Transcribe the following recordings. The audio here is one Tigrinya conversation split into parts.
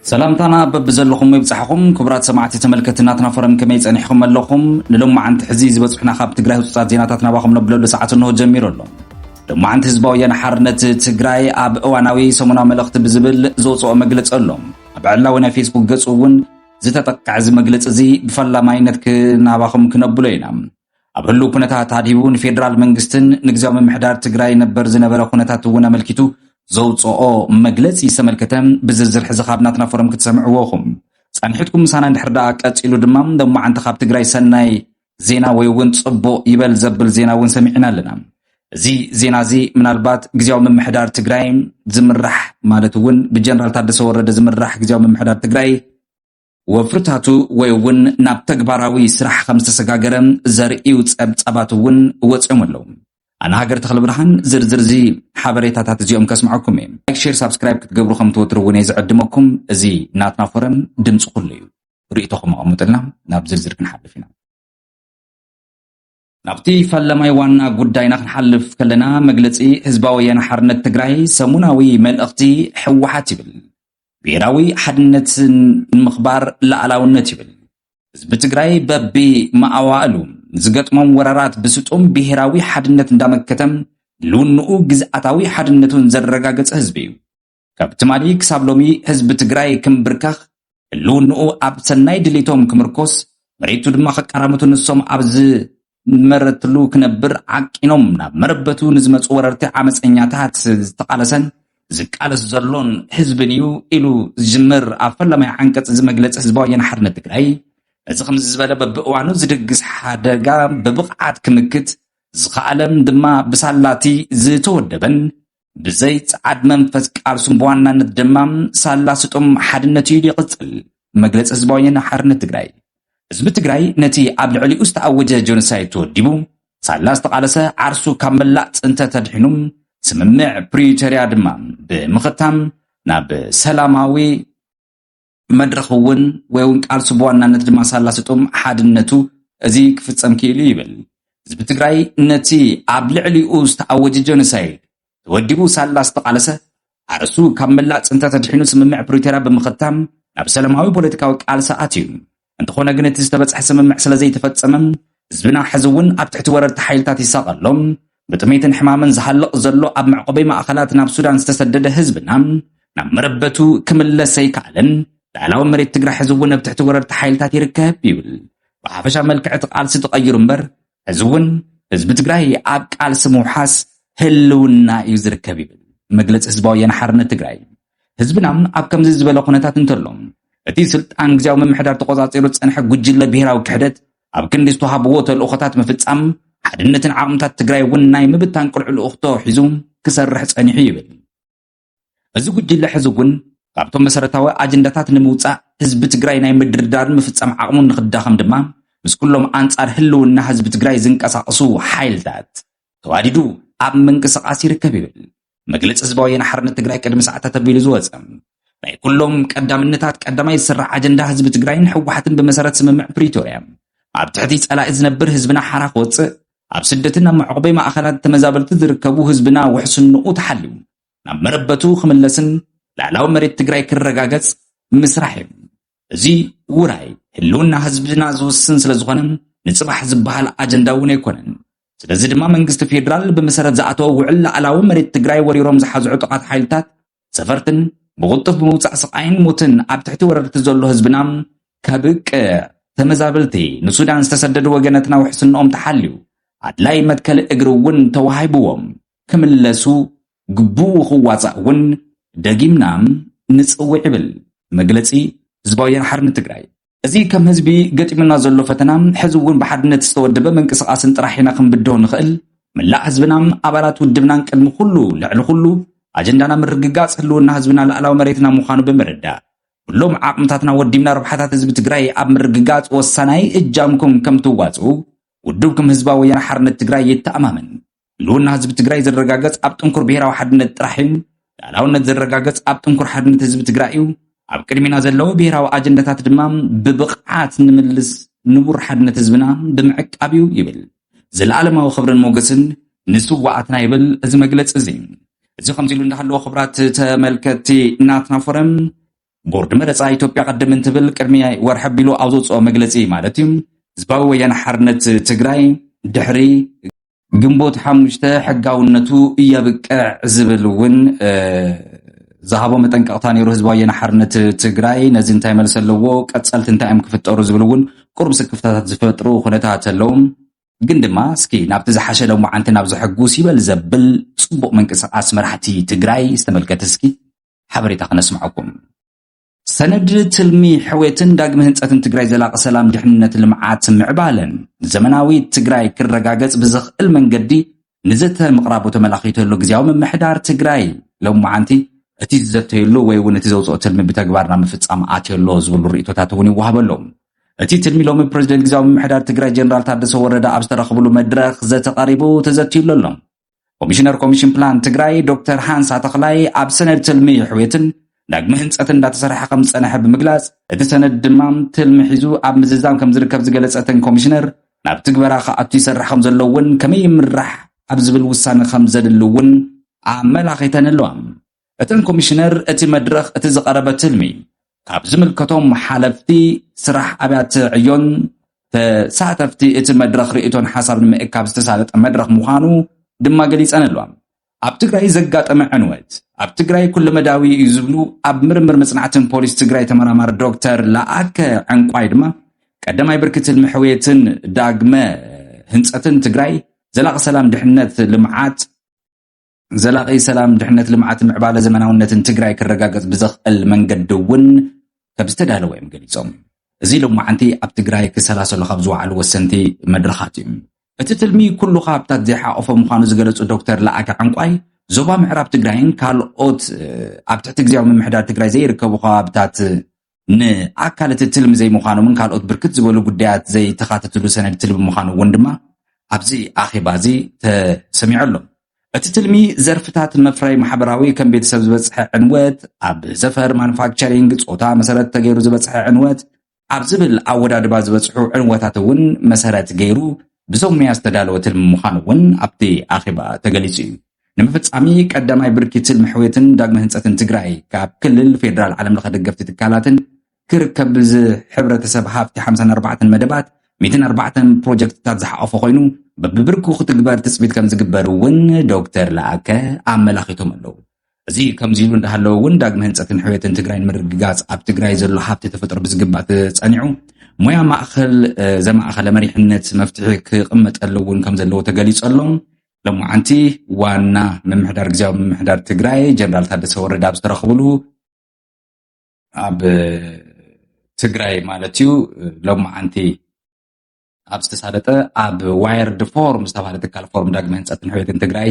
ሰላምታና በብዘለኹም ይብጻሕኹም ክቡራት ሰማዕቲ ተመልከቲ ናትና ፎረም ከመይ ጸኒሕኩም ኣለኹም ንሎማዓንቲ ሕዚ ዝበጽሑና ካብ ትግራይ ህጹጻት ዜናታት ናባኹም ነብለሉ ሰዓት እንሆ ጀሚሩ ኣሎ ሎማዓንቲ ህዝባዊ ወያነ ሓርነት ትግራይ ኣብ እዋናዊ ሰሙናዊ መልእኽቲ ብዝብል ዘውጽኦ መግለጺ ኣሎ ኣብ ዕላዊ ናይ ፌስቡክ ገጹ እውን ዝተጠቅዐ እዚ መግለጺ እዚ ብፈላማይነት ክናባኹም ክነብሎ ኢና ኣብ ህሉው ኩነታት ኣድሂቡ ንፌደራል መንግስትን ንግዜያዊ ምምሕዳር ትግራይ ነበር ዝነበረ ኩነታት እውን ኣመልኪቱ ዘውፅኦ መግለፂ ዝተመልከተ ብዝርዝር ሕዚ ካብ ናትና ፎረም ክትሰምዕዎ ኹም ጸኒሕትኩም ምሳና እንድሕር ደኣ ቀጺሉ ድማ ሎማዓንቲ ካብ ትግራይ ሰናይ ዜና ወይ እውን ጽቡቕ ይበል ዘብል ዜና እውን ሰሚዕና ኣለና እዚ ዜና እዚ ምናልባት ግዜያዊ ምምሕዳር ትግራይ ዝምራሕ ማለት እውን ብጀነራል ታደሰ ወረደ ዝምራሕ ግዜያዊ ምምሕዳር ትግራይ ወፍርታቱ ወይ እውን ናብ ተግባራዊ ስራሕ ከም ዝተሰጋገረ ዘርእዩ ጸብጻባት እውን ወጺኦም ኣለዉ። ኣነ ሃገር ተኽለ ብርሃን ዝርዝር እዚ ሓበሬታታት እዚኦም ከስምዐኩም እየ። ላይክ ሼር ሳብስክራይብ ክትገብሩ ከም ትወትሩ እውን እየ ዝዕድመኩም። እዚ ናትና ፎረም ድምፂ ኩሉ እዩ። ርእይቶኹም ኣቐምጡልና ናብ ዝርዝር ክንሓልፍ ኢና። ናብቲ ፈለማይ ዋና ጉዳይና ክንሓልፍ ከለና መግለፂ ህዝባዊ ወያነ ሓርነት ትግራይ ሰሙናዊ መልእኽቲ ህወሓት ይብል ብሄራዊ ሓድነት ንምኽባር ላኣላውነት ይብል ህዝቢ ትግራይ በቢ መኣዋእሉ ንዝገጥሞም ወረራት ብስጡም ብሄራዊ ሓድነት እንዳመከተም ልውንኡ ግዝኣታዊ ሓድነቱን ዘረጋገፀ ህዝቢ እዩ። ካብ ትማሊ ክሳብ ሎሚ ህዝቢ ትግራይ ክምብርከኽ፣ ህልውንኡ ኣብ ሰናይ ድሌቶም ክምርኮስ፣ መሬቱ ድማ ክቀራምቱ ንሶም ኣብ ዝመረትሉ ክነብር ዓቂኖም ናብ መረበቱ ንዝመፁ ወረርቲ ዓመፀኛታት ዝተቓለሰን ዝቃለስ ዘሎን ህዝብን እዩ ኢሉ ዝጅምር ኣብ ፈላማይ ዓንቀጽ እዚ መግለጺ ህዝባዊ ወያነ ሓርነት ትግራይ እዚ ከምዚ ዝበለ በብእዋኑ ዝድግስ ሓደጋ ብብቕዓት ክምክት ዝኸኣለን ድማ ብሳላቲ ዝተወደበን ብዘይ ጸዓድ መንፈስ ቃልሱን ብዋናነት ድማ ሳላ ስጡም ሓድነት እዩ ኢሉ ይቕጽል። መግለጺ ህዝባዊ ወያነ ሓርነት ትግራይ ህዝቢ ትግራይ ነቲ ኣብ ልዕሊኡ ዝተኣወጀ ጆኖሳይድ ተወዲቡ ሳላ ዝተቓለሰ ዓርሱ ካብ መላእ ጽንተት ኣድሒኑ ስምምዕ ፕሪቶርያ ድማ ብምኽታም ናብ ሰላማዊ መድረኽ እውን ወይ እውን ቃልሱ ብዋናነት ድማ ሳላ ስጡም ሓድነቱ እዚ ክፍፀም ክኢሉ ይብል። ህዝቢ ትግራይ ነቲ ኣብ ልዕሊኡ ዝተኣወጀ ጀኖሳይድ ተወዲቡ ሳላ ዝተቓለሰ ኣርእሱ ካብ መላእ ፅንተት ኣድሒኑ ስምምዕ ፕሪቶርያ ብምኽታም ናብ ሰላማዊ ፖለቲካዊ ቃልሲ ኣትዩ። እንተኾነ ግን እቲ ዝተበጽሐ ስምምዕ ስለ ዘይተፈጸመ ህዝብና ሕዚ እውን ኣብ ትሕቲ ወረርቲ ሓይልታት ይሳቐ ኣሎ። ብጥሜትን ሕማምን ዝሃልቕ ዘሎ ኣብ መዕቆቢ ማእኸላት ናብ ሱዳን ዝተሰደደ ህዝብና ናብ መረበቱ ክምለስ ኣይከኣለን። ልዕላዊ መሬት ትግራይ ሕዚ እውን ኣብ ትሕቲ ወረርቲ ሓይልታት ይርከብ ይብል። ብሓፈሻ መልክዕ እቲ ቃልሲ ተቐይሩ እምበር ሕዚ እውን ህዝቢ ትግራይ ኣብ ቃልሲ ምውሓስ ህልውና እዩ ዝርከብ ይብል መግለፂ ህዝባዊ ወያነ ሓርነት ትግራይ። ህዝብና ኣብ ከምዚ ዝበለ ኩነታት እንተሎ፣ እቲ ስልጣን ግዝያዊ ምምሕዳር ተቖጻጺሩ ዝጸንሐ ጉጅለ ብሄራዊ ክሕደት ኣብ ክንዲ ዝተዋህብዎ ተልእኾታት ምፍጻም፣ ሓድነትን ዓቕምታት ትግራይ እውን ናይ ምብታን ቅሉዕ ልኡኽቶ ሒዙ ክሰርሕ ጸኒሑ ይብል። እዚ ጉጅለ ሕዚ እውን ካብቶም መሰረታዊ ኣጀንዳታት ንምውጻእ ህዝቢ ትግራይ ናይ ምድርዳርን ምፍጻም ዓቕሙ ንኽዳኸም ድማ ምስ ኩሎም ኣንጻር ህልውና ህዝቢ ትግራይ ዝንቀሳቐሱ ሓይልታት ተዋዲዱ ኣብ ምንቅስቓስ ይርከብ ይብል መግለፂ ህዝባዊ ወያነ ሓርነት ትግራይ ቅድሚ ሰዓታት ኣቢሉ ዝወፀ ናይ ኩሎም ቀዳምነታት ቀዳማይ ዝስራሕ ኣጀንዳ ህዝቢ ትግራይን ህወሓትን ብመሰረት ስምምዕ ፕሪቶርያ ኣብ ትሕቲ ፀላኢ ዝነብር ህዝብና ሓራ ክወፅእ ኣብ ስደትን ኣብ መዕቆቢ ማእኸላት ተመዛበልቲ ዝርከቡ ህዝብና ውሕስንኡ ተሓልዩ ናብ መረበቱ ክምለስን ላዕላዊ መሬት ትግራይ ክረጋገፅ ምስራሕ እዩ እዚ ውራይ ህልውና ህዝብና ዝውስን ስለዝኾነ ንፅባሕ ዝበሃል ኣጀንዳ እውን ኣይኮነን። ስለዚ ድማ መንግስቲ ፌዴራል ብመሰረት ዝኣተወ ውዕል ላዕላዊ መሬት ትግራይ ወሪሮም ዝሓዙ ዕጡቓት ሓይልታት ሰፈርትን ብቕልጡፍ ብምውፃእ ስቓይን ሞትን ኣብ ትሕቲ ወረርቲ ዘሎ ህዝብና ከብቅዕ ተመዛበልቲ ንሱዳን ዝተሰደዱ ወገነትና ውሕስንኦም ተሓልዩ ኣድላይ መትከሊ እግሪ እውን ተዋሂብዎም ክምለሱ ግቡኡ ክዋፃእ እውን ደጊምና ንፅውዕ ይብል መግለፂ ህዝባዊ ወያነ ሓርነት ትግራይ። እዚ ከም ህዝቢ ገጢሙና ዘሎ ፈተና ሕዚ እውን ብሓድነት ዝተወደበ ምንቅስቓስን ጥራሕ ኢና ክንብድሆ ንኽእል። መላእ ህዝብና፣ ኣባላት ውድብናን ቅድሚ ኩሉ ልዕሊ ኩሉ ኣጀንዳና ምርግጋፅ ህልውና ህዝብና ላእላዊ መሬትና ምዃኑ ብምርዳእ ኩሎም ዓቕምታትና ወዲብና ረብሓታት ህዝቢ ትግራይ ኣብ ምርግጋፅ ወሳናይ እጃምኩም ከምትዋፅኡ ውድብኩም ህዝባዊ ወያነ ሓርነት ትግራይ የተኣማምን። ህልውና ህዝቢ ትግራይ ዝረጋገፅ ኣብ ጥንኩር ብሔራዊ ሓድነት ጥራሕ እዩ። ልኣላውነት ዝረጋገፅ ኣብ ጥንኩር ሓድነት ህዝቢ ትግራይ እዩ። ኣብ ቅድሚና ዘለዎ ብሔራዊ ኣጀንዳታት ድማ ብብቕዓት ንምልስ ንቡር ሓድነት ህዝብና ብምዕቃብ እዩ ይብል። ዘለኣለማዊ ክብርን ሞገስን ንስዋኣትና ይብል እዚ መግለፂ እዚ። እዚ ከምዚ ኢሉ እንዳሃለዎ ክብራት ተመልከትቲ ናትና ፎረም ቦርድ መረፃ ኢትዮጵያ ቅድም እንትብል ቅድሚ ወርሒ ኣቢሉ ኣብ ዘውፅኦ መግለፂ ማለት እዩ ህዝባዊ ወያነ ሓርነት ትግራይ ድሕሪ ግንቦት ሓሙሽተ ሕጋውነቱ እየብቅዕ ዝብል እውን ዝሃቦ መጠንቀቕታ ነይሩ ህዝባዊ ወያነ ሓርነት ትግራይ ነዚ እንታይ መልሲ ኣለዎ ቀፀልቲ እንታይ እዮም ክፍጠሩ ዝብል እውን ቁሩብ ስክፍታታት ዝፈጥሩ ኩነታት ኣለዉ ግን ድማ እስኪ ናብቲ ዝሓሸ ሎማዓንቲ ናብ ዘሐጉስ ይበል ዘብል ፅቡቕ ምንቅስቓስ መራሕቲ ትግራይ ዝተመልከተ እስኪ ሓበሬታ ክነስምዐኩም። ሰነድ ትልሚ ሕውየትን ዳግመ ህንፀትን ትግራይ ዘላቂ ሰላም ድሕንነት ልምዓት ምዕባለን ዘመናዊ ትግራይ ክረጋገፅ ብዘኽእል መንገዲ ንዘተ ምቕራቡ ተመላኺቱ ኣሎ ግዜያዊ ምምሕዳር ትግራይ ሎም መዓንቲ እቲ ዝዘተየሉ ወይ እውን እቲ ዘውፅኦ ትልሚ ብተግባር ናብ ምፍፃም ኣትዮ ኣሎ ዝብሉ ርእቶታት እውን ይወሃበ ኣሎ እቲ ትልሚ ሎሚ ፕሬዚደንት ግዜያዊ ምምሕዳር ትግራይ ጀነራል ታደሰ ወረደ ኣብ ዝተረኽብሉ መድረኽ ዘተ ቀሪቡ ተዘትዩሉ ኣሎ ኮሚሽነር ኮሚሽን ፕላን ትግራይ ዶክተር ሃንሳ ተኽላይ ኣብ ሰነድ ትልሚ ሕውየትን ዳግሚ ህንፀት እንዳተሰርሐ ከም ዝፀንሐ ብምግላፅ እቲ ሰነድ ድማ ትልሚ ሒዙ ኣብ ምዝዛም ከም ዝርከብ ዝገለፀ እተን ኮሚሽነር ናብ ትግበራ ክኣቱ ይሰርሕ ከም ዘሎ እውን ከመይ ይምራሕ ኣብ ዝብል ውሳነ ከም ዘድሊ እውን ኣመላኺተን ኣለዋ። እተን ኮሚሽነር እቲ መድረኽ እቲ ዝቐረበ ትልሚ ካብ ዝምልከቶም ሓለፍቲ ስራሕ ኣብያተ ዕዮን ተሳተፍቲ እቲ መድረኽ ርእይቶን ሓሳብ ንምእካብ ዝተሳለጠ መድረኽ ምዃኑ ድማ ገሊፀንሎም። ኣብ ትግራይ ዘጋጠመ ዕንወት ኣብ ትግራይ ኩለመዳያዊ እዩ ዝብሉ ኣብ ምርምር መፅናዕትን ፖሊሲ ትግራይ ተመራማሪ ዶክተር ለኣከ ዕንቋይ ድማ ቀዳማይ ብርኪ ትልሚ ሕውየትን ዳግመ ህንፀትን ትግራይ ዘላቂ ሰላም፣ ድሕነት፣ ልምዓት፣ ዘላቒ ሰላም፣ ድሕነት፣ ልምዓትን ምዕባለ ዘመናውነትን ትግራይ ክረጋገፅ ብዘኽእል መንገዲ እውን ከምዝተዳለወ እዮም ገሊፆም። እዚ ሎማዓንቲ ኣብ ትግራይ ክሰላሰሉ ካብ ዝወዓሉ ወሰንቲ መድረኻት እዩ። እቲ ትልሚ ኩሉ ከባብታት ዘይሓቖፈ ምዃኑ ዝገለፁ ዶክተር ለኣከ ዕንቋይ ዞባ ምዕራብ ትግራይን ካልኦት ኣብ ትሕቲ ግዜያዊ ምምሕዳር ትግራይ ዘይርከቡ ከባብታት ንኣካል እቲ ትልሚ ዘይምዃኖምን ካልኦት ብርክት ዝበሉ ጉዳያት ዘይተኻተትሉ ሰነድ ትልሚ ምዃኑ እውን ድማ ኣብዚ ኣኼባ እዚ ተሰሚዑ ኣሎ። እቲ ትልሚ ዘርፍታት መፍረይ ማሕበራዊ ከም ቤተሰብ ዝበፅሐ ዕንወት፣ ኣብ ዘፈር ማኑፋክቸሪንግ ፆታ መሰረት ተገይሩ ዝበፅሐ ዕንወት ኣብ ዝብል ኣወዳድባ ዝበፅሑ ዕንወታት እውን መሰረት ገይሩ ብዞም ሙያ ዝተዳለወ ትልሚ ምዃኑ እውን ኣብቲ ኣኼባ ተገሊፁ እዩ። ንምፍፃሚ ቀዳማይ ብርኪ ትልሚ ሕውየትን ዳግመ ህንፀትን ትግራይ ካብ ክልል፣ ፌዴራል፣ ዓለም ለኸ ደገፍቲ ትካላትን ክርከብ ብዝሕብረተሰብ ሃፍቲ ሓምሳን ኣርባዕተን መደባት ሚእትን ኣርባዕተን ፕሮጀክትታት ዝሓቖፈ ኮይኑ በብብርኩ ክትግበር ትፅቢት ከም ዝግበር እውን ዶክተር ለኣከ ኣመላኺቶም ኣለዉ። እዚ ከምዚ ኢሉ እንዳሃለወ እውን ዳግመ ህንፀትን ሕውየትን ትግራይ ንምርግጋፅ ኣብ ትግራይ ዘሎ ሃብቲ ተፈጥሮ ብዝግባእ ተፀኒዑ ሞያ ማእኸል ዘማእኸለ መሪሕነት መፍትሒ ክቕመጠሉ እውን ከም ዘለዎ ተገሊፁ ኣሎ። ሎማዓንቲ ዋና ምምሕዳር ግዝያዊ ምምሕዳር ትግራይ ጀነራል ታደሰ ወረደ ኣብ ዝተረኽብሉ ኣብ ትግራይ ማለት እዩ ሎማዓንቲ ኣብ ዝተሳለጠ ኣብ ዋየርድ ፎርም ዝተባሃለ ትካል ፎርም ዳግመ ህንፀትን ሕቤትን ትግራይ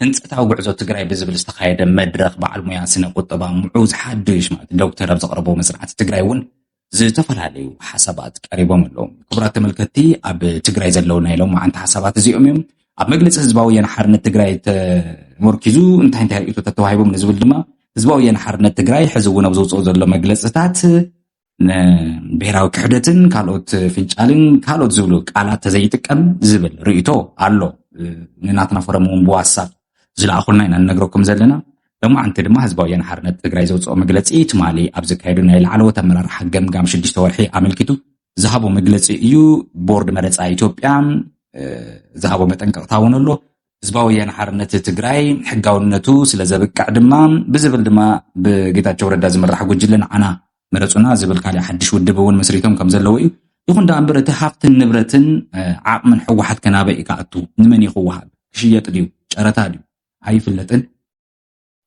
ህንፀታዊ ጉዕዞ ትግራይ ብዝብል ዝተካየደ መድረክ በዓል ሙያ ስነ ቁጠባ ምዑዝ ሓዱሽ ማለት ዶክተር ኣብ ዘቅረቦ መፅናዕቲ ትግራይ እውን ዝተፈላለዩ ሓሳባት ቀሪቦም ኣለዉ። ክቡራት ተመልከትቲ ኣብ ትግራይ ዘለዉ ናይ ሎማዓንቲ ሓሳባት እዚኦም እዮም። ኣብ መግለፂ ህዝባዊ ወያነ ሓርነት ትግራይ ተመርኪዙ እንታይ እንታይ ርእቶታት ተዋሂቦም ንዝብል ድማ ህዝባዊ ወያነ ሓርነት ትግራይ ሕዚ እውን ኣብ ዘውፅኦ ዘሎ መግለፅታት ብሄራዊ ክሕደትን ካልኦት ፍንጫልን ካልኦት ዝብሉ ቃላት ተዘይጥቀም ዝብል ርእቶ ኣሎ ንናትና ፎረም እውን ብዋትሳፕ ዝለኣኹልና ኢና ንነግረኩም ዘለና። ሎማዕንቲ ድማ ህዝባዊ ወያነ ሓርነት ትግራይ ዘውፅኦ መግለፂ ትማሊ ኣብ ዘካየዱ ናይ ላዕለዎት ኣመራርሓ ገምጋም ሽዱሽተ ወርሒ ኣመልኪቱ ዝሃቦ መግለፂ እዩ። ቦርድ መረፃ ኢትዮጵያ ዝሃቦ መጠንቀቕታ እውን ኣሎ። ህዝባዊ ወያነ ሓርነት ትግራይ ሕጋውነቱ ስለ ዘብቅዕ ድማ ብዝብል ድማ ብጌታቸው ረዳ ዝምራሕ ጉጅለ ንዓና ምረጹና ዝብል ካልእ ሓድሽ ውድብ እውን መስሪቶም ከም ዘለዉ እዩ። ይኹን ደኣ እምበር እቲ ሃፍትን ንብረትን ዓቕምን ሕወሓት ከናበይ እዩ ክኣቱ? ንመን እዩ ክወሃብ? ክሽየጥ ድዩ? ጨረታ ድዩ? ኣይፍለጥን።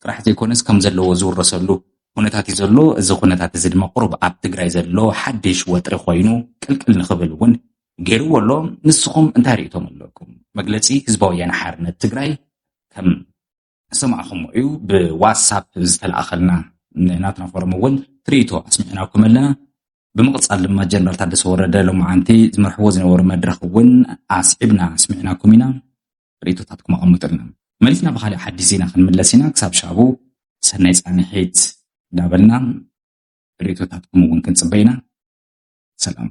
ጥራሕ ዘይኮነስ ከም ዘለዎ ዝውረሰሉ ኩነታት እዩ ዘሎ። እዚ ኩነታት እዚ ድማ ቁሩብ ኣብ ትግራይ ዘሎ ሓድሽ ወጥሪ ኮይኑ ቅልቅል ንክብል እውን ገይርዎ ኣሎ። ንስኹም እንታይ ርእይቶም ኣለኩም? መግለጺ ህዝባዊ ወያነ ሓርነት ትግራይ ከም ዝሰማዕኹምዎ እዩ ብዋትሳፕ ዝተለኣኸልና ናትና ፎረም እውን ትርኢቶ ኣስሚዕናኩም ኣለና ብምቕፃል ድማ ጀነራል ታደሰ ወረደ ሎማዓንቲ ዝመርሕዎ ዝነበሩ መድረኽ እውን ኣስዒብና ኣስሚዕናኩም ኢና ርእቶታትኩም ኣቐምጡልና መሊስና ብካሊእ ሓዲስ ዜና ክንምለስ ኢና ክሳብ ሻቡ ሰናይ ፃንሒት እንዳበልና ርእቶታትኩም እውን ክንፅበ ኢና ሰላም